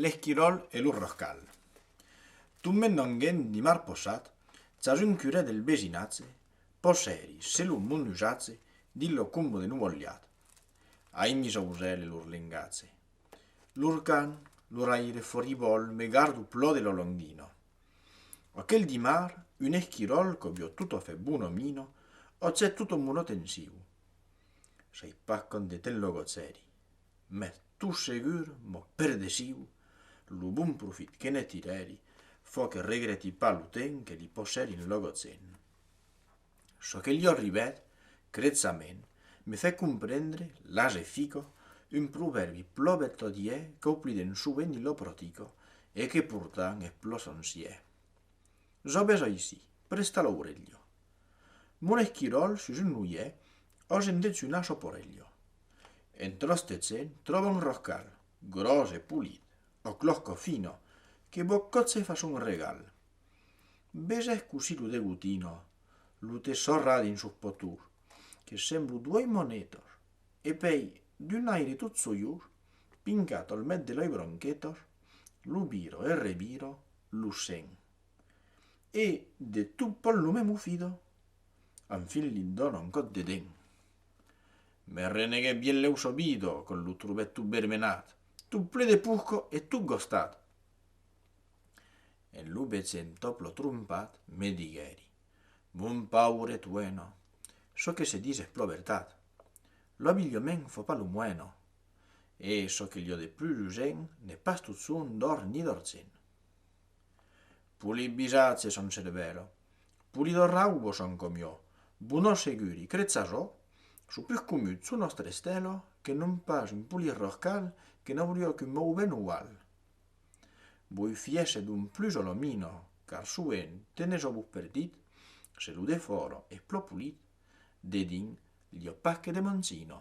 L'esquiròl e lo rorcal. Tombent d'un gènt de mar possat, chas un curè del vesinatge, possèri se lo monujatge dins lo combo de Nuvolhat, aimi s'ausèl e lor lengatge. Lor cant, lor aire foribòl me garda au plò de lo longino. Aquel dimar, un esquiròl qu'aubiò tot a fè bon o mino, ò cè tot o monot en siu, Sei pas conde te'n lo gotzèri, mès tot segur m'ò perdesiu, lo bon profit que ne tirèri fò que regreti pas lo temps que li posèri en lo gotzèn. Çò que li ò arribèt, crètzament, me fè comprendre, las e fico, un provèrbi plò bertodiè qu'ò pliden sovent i lo protico e que portant es plò sonciè. Zò besòi sí, presta l'ourelho. Mon esquiròl sus un luiè, ò se'n dets una choporelhò. En tròstet se'n tròba un roscal, gròs e polit, ò closco fino, que Boccòtze fa son regal. Besés cosí lo degotino, lo te sorra dins sos potors, que semblo duei monetos, e pei, d'un aire tot sojós, pingat al met de lei bronquetos, lo viro e reviro, lo sent. e de tot pòl lo mèmu fida, en fin li dona un còt de dent. Me reneguèt bien lèu sobido quand lo trobèt tot vermenat, tot ple de purco e tot gostat. En lo besen top lo trompat, me diguèri, Mon paure tueno, çò que se dis es pro vertat. Lo abilhament fò pas lo moeno, e çò que liò de plus usent n'es pas tot son d'òr ni d'orcent. Poli bisatze son cervèro. Poli do raubo son com jo. Bunò seguri, cretz a çò? Su pus comut, su nòstre estèlo, que non pas un poli rorcal que n'aurió qu'un mouvement ual. Voi fièsse d'un plus o lo minò, car soent tenes o buf perdit, se lo de fòro es plò polit, de dins, l'i opaque de Monsinò.